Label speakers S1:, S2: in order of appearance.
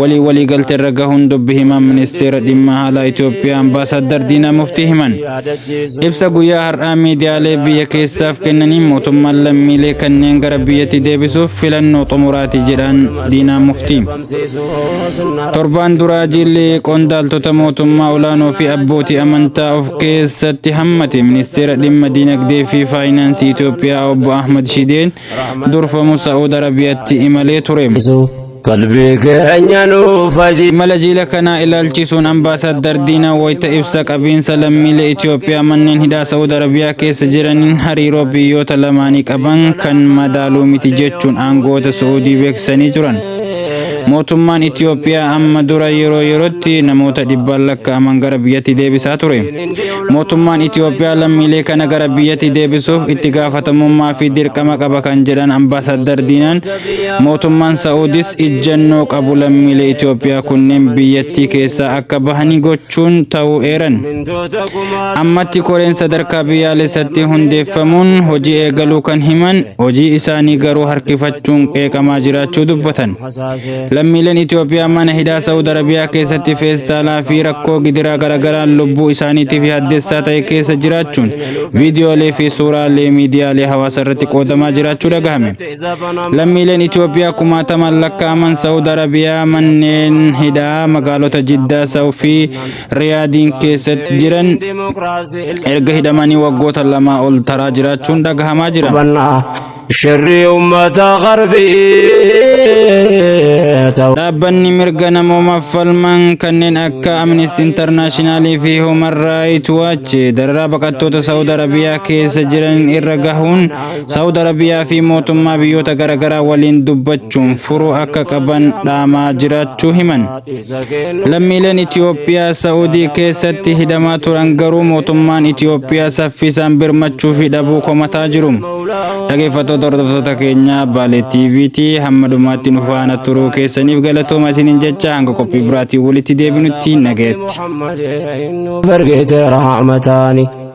S1: walii waliigalteerra gahuun dubbi himaan ministeera dhimma haalaa Itoophiyaa ambaasaaddar Diinaa Muftii himan. Ibsa guyyaa har'aa miidiyaalee biyya keessaaf kennaniin mootummaan lammiilee kanneen gara biyyatti deebisuuf filannoo xumuraati jedhaan Diinaa Muftii. Torbaan duraa jiilli qondaaltota mootummaa olaanoo fi abbootii amantaa of keessatti hammate ministeera dhimma diinagdee fi faayinaansii Itoophiyaa obbo Ahmad Shideen durfamu Sa'uud Arabiyaatti imalee ture. Qalbii keenya nuuf haji. Imala jiila kanaa ilaalchisuun Ambaasaaddar Diinaa wayita ibsa qabiinsa lammiilee Itoophiyaa manneen hidhaa Sa'ud Arabiyaa keessa jiraniin hariiroo biyyoota lamaanii qaban kan madaaluu miti jechuun aangoota Su'uudii beeksisanii turan. Mootummaan Itoophiyaa amma dura yeroo yerootti namoota dhibbaan lakkaa'aman gara biyyatti deebisaa ture. Mootummaan Itoophiyaa lammiilee kana gara biyyatti deebisuuf itti gaafatamummaa fi dirqama qaba kan jedhan Ambaasaaddar Diinaan Mootummaan Sa'uudis ijjannoo qabu lammiilee Itoophiyaa kunneen biyyattii keessaa akka bahanii gochuun ta'uu eeran. Ammatti koreen sadarkaa biyyaalessatti hundeeffamuun hojii eegaluu kan himan hojii isaanii garuu harkifachuun qeeqamaa jiraachuu dubbatan. Lammiileen Itoophiyaa mana hidhaa Sa'uud Arabiyaa keessatti feestaalaa fi rakkoo gidiraa garaagaraan lubbuu isaaniitiif yaaddessaa ta'e keessa jiraachuun viidiyoolee fi suuraalee miidiyaalee hawaasaa irratti qoodamaa jiraachuu dhagahame. Lammiileen Itoophiyaa kumaatamaan lakkaa'aman Saawud Arabiyaa manneen hidhaa magaalota Jiddaa, Saawud fi Riyaadiin keessatti jiran erga hidhamanii waggoota lamaa ol taraa jiraachuun dhagahamaa jira. Shirri uummata qarbii ta'u. Dhaabbanni mirga namoomaaf falman kanneen akka Amnesty International fi Human Rights Watch dararaa baqattoota Saawud Arabiyaa keessa jiran irra gahuun Saawud Arabiyaa fi mootummaa biyyoota garaagaraa waliin dubbachuun furuu akka qaban dhaamaa jiraachuu himan. Lammiileen Itiyoophiyaa Saawudii keessatti hidhamaa turan garuu mootummaan Itiyoophiyaa saffisaan birmachuu fi dhabuu komataa jiru. Dhaggeeffattoota hordoftoota keenyaa Baalee TV'ti hamma dhumaatti nu faana turuu keessaniif galatooma isiniin jecha hanga qophii biraatiin walitti deebinutti nagayatti. Bargeete rahmataani.